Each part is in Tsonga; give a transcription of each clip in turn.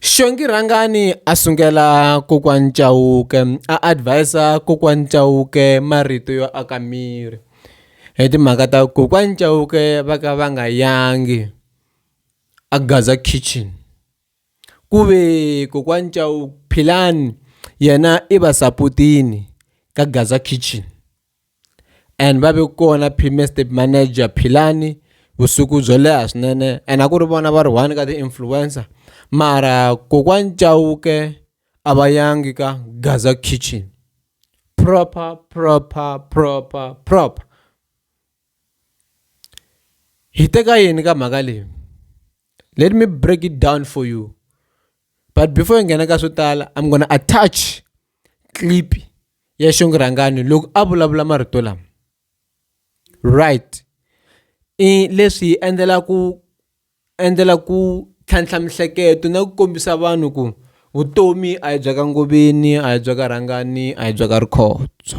Xongi Rhangani a sungula kokwani Chauke a advis-a kokwani Chauke marito yo aka miri hi timhaka ta ku kokwani Chauke va ka va nga yangi a Gaza Kitchen ku ve kokwani Philani yena i va saputini ka Gaza Kitchen. and va ve kona premier state manager Philani vusiku byo leha swinene and a ku ri vona va ri one ka ti-influencer mara kokwani Chauke a va yangi ka Gaza Kitchen proper proper proper proper hi teka yini ka mhaka leyi let me break it down for you but before hi nghena ka swo tala I'm gonna attach clip ya xingurhangani loko a vulavula marito lama right i leswi hi endlela ku endlela ku tlhantlha mihleketo na ku kombisa vanhu ku vutomi a hi bya ka ngoveni a hi bya ka rhangani a hi bya ka rikhondzo.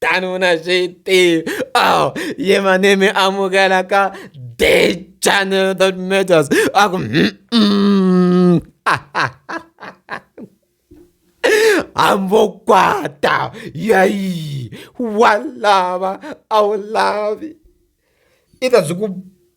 tani u na swi tivi oh ye my name amukela ka the channel that matters a ku hambo kwata yayi wa lava a wu lavi i ta byi ku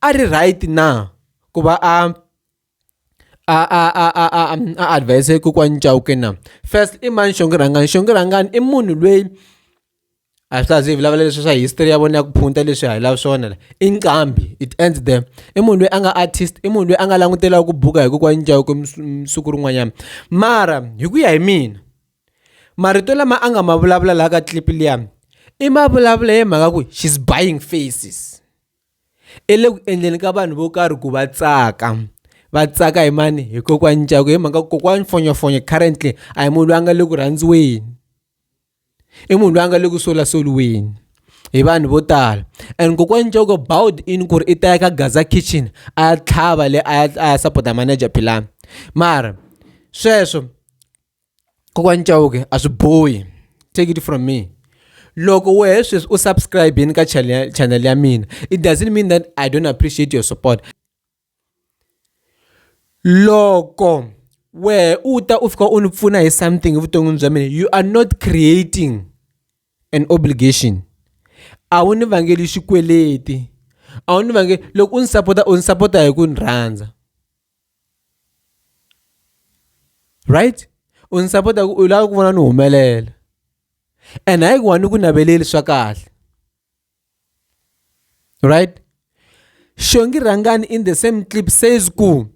a ri right na ku va a a a a a a a advise kokwani Chauke na first i mani Shongi Rhangani Shongi Rhangani i munhu lweyi a swi laha swi vulavula leswi swa history ya vona ya ku phunta leswi hi lava swona la i nqambi it ends there i munhu loyi a nga artist i munhu loyi a nga langutela ku buka hi kokwani Chauke siku rin'wanyana mara hi ku ya hi mina marito lama a nga ma vulavula laha ka clip liya i ma vulavula hi mhaka ku she's buying faces. i le ku endleni ka vanhu vo karhi ku va tsaka va tsaka hi mani hi kokwani Ncaku hi mhaka kokwani Fonyofonyo currently a hi munhu loyi a nga le ku rhandziweni i munhu loyi a nga le ku solasoliweni hi vanhu vo tala and kokwani Ncaku bound in ku ri i ta ya ka Gaza kitchen a ya tlhava le a ya a ya sapota manager Philani mara sweswo. kokwani cawuke a swi bohi take it from me loko wehe sweswi u subscribeni ka channel ya mina it doesn't mean that i don't appreciate your support loko wehe u ta u fika u ni pfuna hi something evuton'wini bya mina you are not creating an obligation a wu ni vangeli xikweleti a wu ni vangeli loko u ni sapota u ni sapota hi ku ni rhandza right u ndzi sapota ku u lava ku vona ni humelela and hayi ku wa ni ku naveleli swa kahle right xongi rhangani in the same clip says ku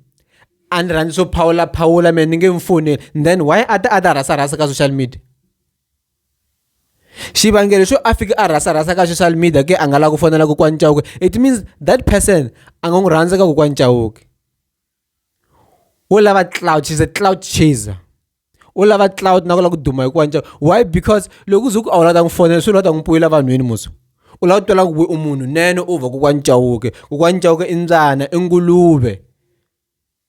a ni rhandzi swo phawula phawula mina ni nge mfoni then why a ta a ta rhasa rhasa ka social media xivangelo xo a fika a rhasa rhasa ka social media ke a nga lava ku fonela kokwani chauke it means that person a nga n'wi rhandza ka kokwani chauke wo lava cloud she's a cloud chaser u lava cloud na ku lava ku duma hi kokwani chauke why because loko u ze ku a wu lava ta n'wi fonela swi lava ta n'wi puyela vanhwini muso u lava ku twela ku we u munhu nene u vha kokwani chauke kokwani chauke i mbyana i nguluve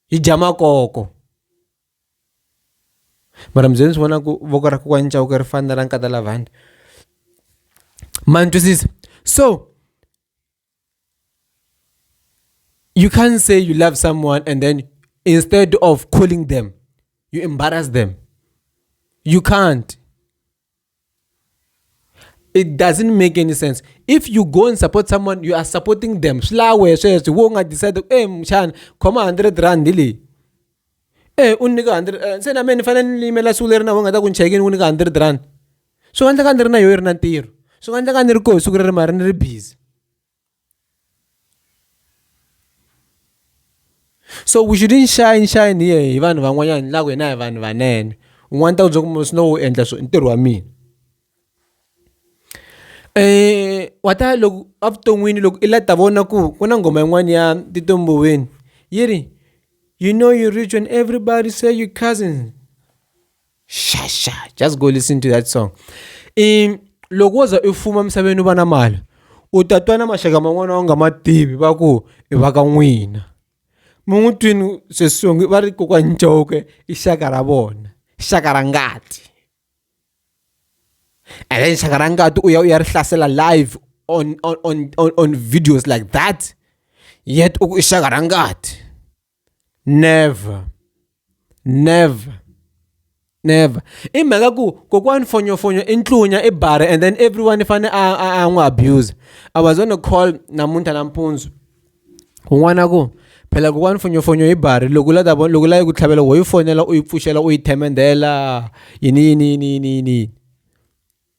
yi dya makoko Mara mi ze mi swi vona ku voko ra kokwani Chauke ri fana na ra nkata Lavhandla ma ni twisisa so you can't say you love someone and then instead of calling them you embarrass them you can't. it doesn't make any sense if you go and support someone you are supporting them swi la wehe sweswo wo nga decide ku e eh, muxana khoma hundred rand leyi e u nyika hundred eh, se na mina ni fanele ni yimela siku leri na vo nga ta ku ni chekini u nyika hundred rand swi nga endleka ni ri na yoho yi ri na ntirho swi nga endleka ni ri koho siku leri mara ni ri busy so we shouldn't shine shine here hi vanhu van'wanyana ni la ku hina hi vanhu vanene un'wana ta ku byela ku swi no wu endla swo i ntirho wa mina um wa ta loko evuton'wini loko i la ta vona ku ku na nghoma yin'wana ya Tito Mboweni yi ri you know you rich when everybody say you cousins. sha sha just go listen to that song um loko wo za u fuma emisaveni u va na mali u ta twa na maxaka man'wana u nga ma tivi va ku i va ka n'wina mi n'wi twini sweswongi va ri kokwani ncoke i xaka ra vona xaka ra ngati and then xaka ra ngati u ya u ya ri hlasela live on, on, on, on videos like that yet u ku i xaka ra ngati never never never i mhaka ku kokwani fonyofonyo i ntlunya i bara and then everyone i fanele a n'wi abuse i was on a call namuntlha nampundzu un'wana ku phela kokwani fonyofonyo hi bari loko la ta vona loko la yi ku tlhavela wo yi fonela u yi pfuxela u yi themendela yini yini yini yini yini yini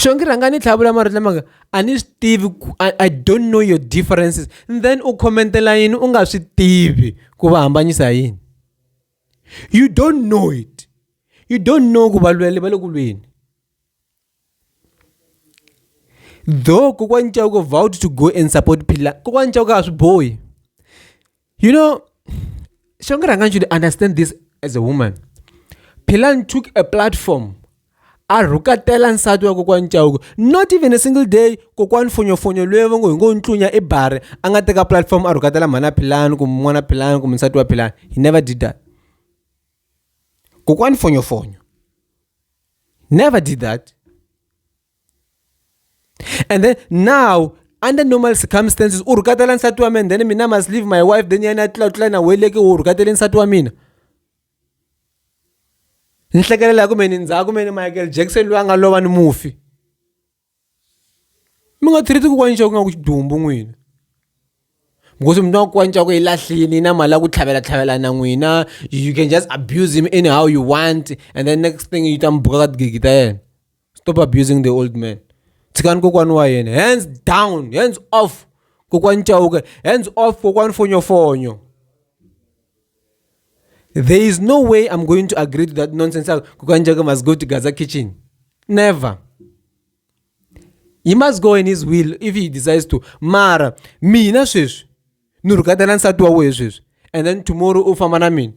swo ngi rhanga ni tlhavula marito lamanga a ni swi tivi ku i don't know your differences and then u khomentela yini u nga swi tivi ku va hambanyisa yini you don't know it you don't know ku valweli va le ku lweni though kokwani chauke vowed to go and support phila kokwani chauke a swi bohi you know shonge rhangani should understand this as a woman philan took a platform a rhukatela nsati wa kokwani chauke not even a single day kokwani fonyofonyo loyi va ngo hi ngo ntlunya i bare a nga teka platform a rhukatela mhana philani kumbe n'wana philani kumbe nsati wa philani he never did that kokwani fonyofonyo Never did that. And then now, under normal circumstances, u rhukatela nsati wa mina then mina must leave my wife then yena tlula tlula na weleke u rhukatele nsati wa mina. Ni hlekelela ku meni ndzhaku meni Michael Jackson loyi a nga lova ni mufi. mi nga treat-i kokwana nxavo ku nga ku xidumbu n'wina because mi twa ku kokwana nxavo i lahlile na mali ya ku tlhavela tlhavela na n'wina you can just abuse him any how you want and then next thing yi ta mi buka ka tigigi ta yena stop abusing the old man tshikani kokwana wa yena hands down hands off kokwana chauke hands off kokwana fonyofonyo. there is no way i'm going to agree to that nonsense yako kukanjaka must go to gaza kitchen never he must go in his will if he decides to mara mina sweswi ni rhukata na nsati wa wehe sweswi and then tomorrow u famba na mina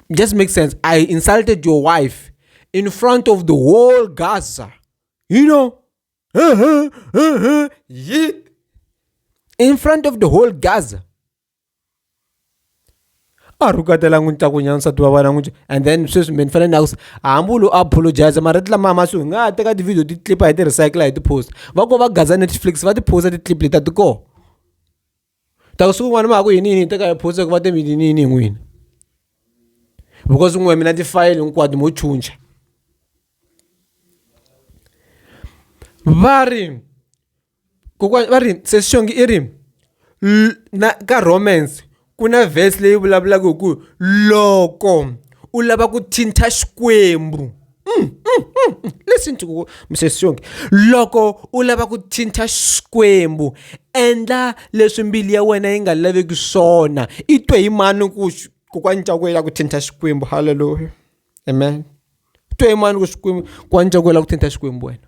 just make sense i insulted your wife in front of the whole gaza you know in front of the whole gaza a rhukatela n'wi ta ku nyana nsati wa vana n'wi and then sweswi me ni fanele ni yakusa hambi u lo apologize mara ti lama masiku hi nga ha teka ti-video ti clip hi ti recycle hi ti-post va ko va gaza netflix va ti-post ti-clip leti a ti kona ta ku siku rin'wana ma ha ku yini yini hi teka hi post ku va te mi yini yini hi n'wini because n'we mina tifayele hinkwato mo chucha va ri kokwana va ri se swi xongi i ri na ka romance ku na verse leyi vulavulaka hi ku loko u lava ku thinta xikwembu listen to misisi xonge loko u lava ku thinta xikwembu endla leswi mbilu ya wena yi nga laveki swona i twe hi mani ku kokwani cakwe ya ku thinta xikwembu haleluya amen twe hi mani ku xikwembu kokwani cakwe la ku thinta xikwembu wena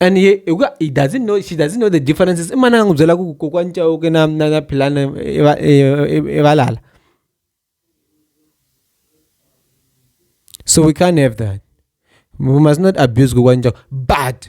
and ye hi ku he doesn't know she doesn't know the differences i manana a n'wi byela ku kokwani Chauke na na na Philani i va i valala so we can't have that we must not abuse kokwani Chauke but.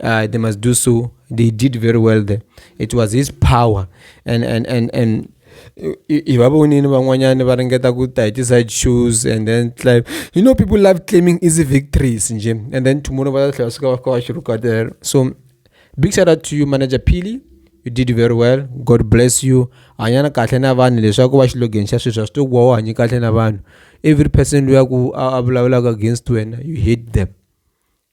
uh, they must do so. They did very well there. It was his power. And, and, and, and hi va vonini van'wanyana va ringeta ku ta hi ti-side shoes and then claim you know people love claiming easy victories nje and then tomorrow va ta tlhela suka va fika va xi rukatela so big shout out to you manager pili you did very well god bless you hanyana kahle na vanhu leswaku va xilogeni xa sweswi a swi to ku wa wa hanye kahle na vanhu every person loyi a ku a vulavulaka against wena you hate them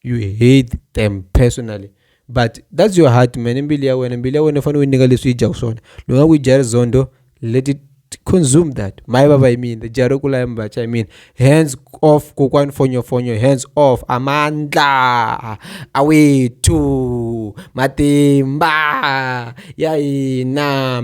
you hate them personally but that's your heart man mbilu ya wena mbilu ya wena fanele u yi nyika leswi yi dyaku swona loko nga ku yi dya rizondo let it consume that maye vava hi mina dya ro kula ya mivacha hi mina hands off kokwani fonyofonyo hands off amandla awethu matimba ya hina